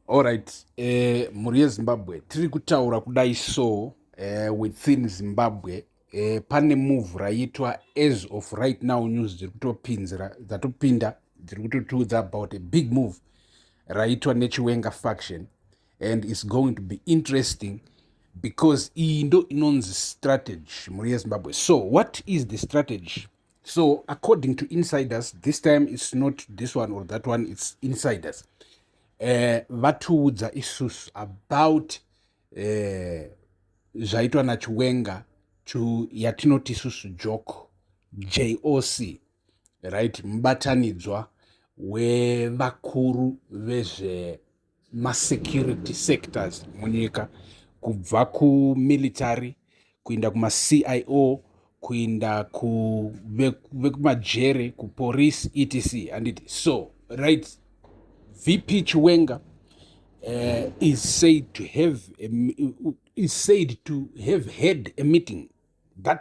Alright, eh, mhuri yezimbabwe tiri kutaura kudai so eh, within zimbabwe eh, pane move raiitwa as of right now news dziri kutopinzira dzatopinda dziri kutotiudza about a big move raiitwa nechiwenga faction and its going to be interesting because iyi ndo inonzi strategy mhuri yezimbabwe so what is the strategy so according to insiders this time its not this one or that one its insiders eh, vatiudza uh, isusu about eh, zvaitwa uh, nachiwenga to yatinoti isusu joke joc right mubatanidzwa wevakuru vezve masecurity sectors munyika kubva kumilitary kuinda kumacio kuinda vekumajere ve kupolice etc handiti so right vp chiwenga uh, is said to have a, is said to have had a meeting that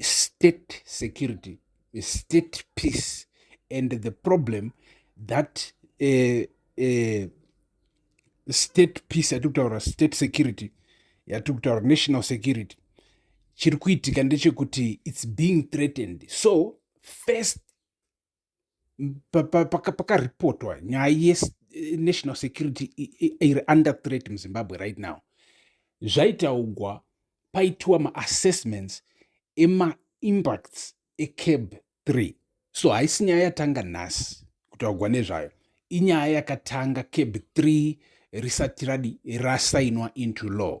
state security state peace and the problem that uh, uh, state peace yatiri kutaura state security yatiri kutaura national security chiri kuitika ndechekuti its being threatened so first pakaripotwa paka nyaya yenational eh, security iri under threat muzimbabwe right now zvaitaugwa paitiwa maassessments emaimpacts ecab 3 so haisi nyaya yatanga nhasi kutaugwa nezvayo inyaya yakatanga cab 3 risati radi rasainwa into law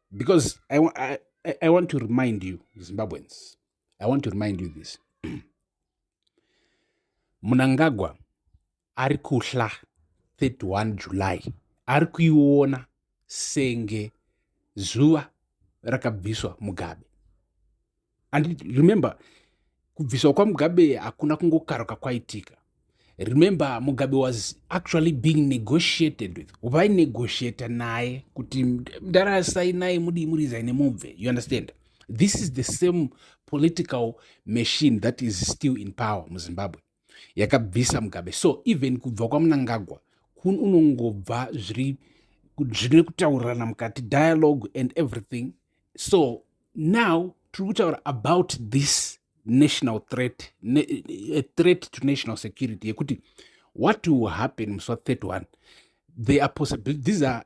because I, I, I want to remind you zimbabweans i want to remind you this munangagwa ari kuhla 31 july ari kuiona senge zuva rakabviswa mugabe and remember kubviswa kwamugabe hakuna kungokaruka kwaitika remember mugabe was actually being negotiated with vainegotiata naye kuti ndarasai naye mudii murizai nemubve you understand this is the same political machine that is still in power muzimbabwe yakabvisa mugabe so even kubva kwamunangagwa kun unongobva zviri zvine kutaurirana mukati dialogue and everything so now tiri kutaura about this national threat ne, a threat to national security yekuti what will happen musi wa 31 there are possibility these are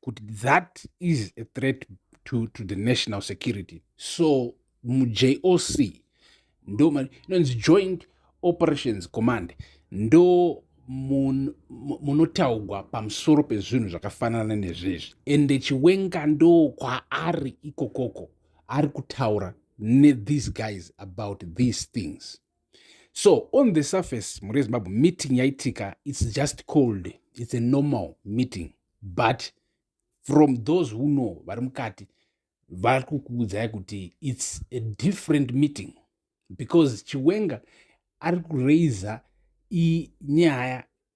kuti that is a threat to, to the national security so mujoc ndo inonzi joint operations command ndo munotaugwa pamusoro pezvinhu zvakafanana nezvezvi ende chiwenga ndo kwaari ikokoko ari kutaura nethese guys about these things so on the surface mhuri yezimbabwe meeting yaitika its just cold its a normal meeting but from those who know vari mukati vari kukuudzai kuti its a different meeting because chiwenga ari kuraiza nyaya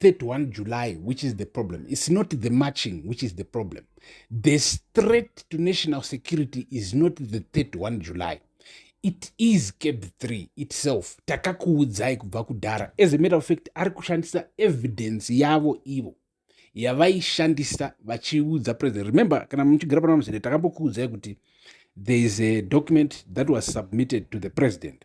31 July, which is the problem. It's not the marching, which is the problem. The threat to national security is not the 31 July. It is cab 3 itself. Takakuudzai kubva kudhara. As a matter of fact, ari kushandisa evidence yavo ivo yavaishandisa vachiudza president. Remember, kana muchigara pana muzere takambokuudzai kuti there is a document that was submitted to the president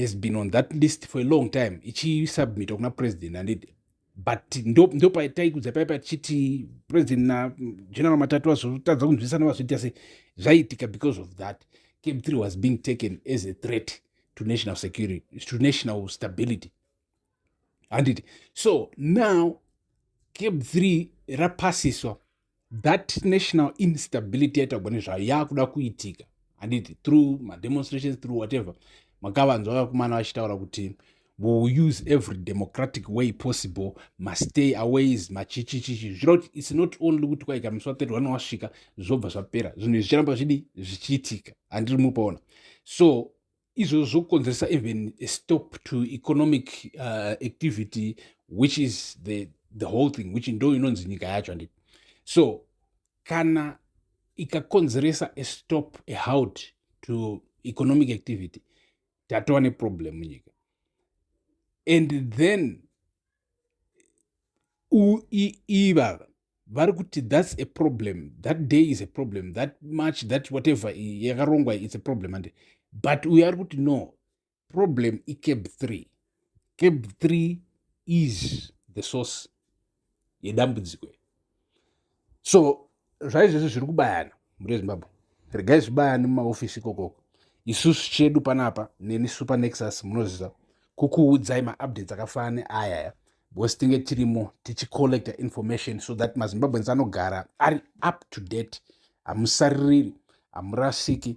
has been on that list for a long time ichisubmita kuna president anditi but ndopataikudza paipa tichiti president nageneral matatu vazotadza kunzwisana vazviita se zvaiitika because of that cam three was being taken as a threat to national security to national stability handiti so now cab three rapasiswa that national instability yaitagwa nezvayo yaakuda kuitika handiti through mademonstrations through whatever makavanzwa vakomana vachitaura kuti will use every democratic way possible mastay aways machichichichi zvireva kuti its not only kuti kwaika musi wa 31 wasvika zvobva zvapera zvinhu izvi zvicharamba zvidi zvichiitika handiri mupaona so izvozvo zvokonzeresa even a stop to economic uh, activity which is the, the whole thing which ndo inonzi nyika yacho andi so kana ikakonzeresa a stop a halt to economic activity tatova neproblem munyika and then ivava vari kuti thats a problem that day is a problem that much that whatever yakarongwa its a problem ande but uyo ari kuti no problem icab three cab three is the source yedambudziko so zvaizvezvi zviri kubayana mhuri yezimbabwe regai zvibayani mumaofisi ikokoko isusu chedu panapa neni super nexus munoziva kukuudzai maupdates akafanana neayaya because tinge tirimo tichicollecta information so that mazimbabweans anogara ari up to date hamusaririri hamurasiki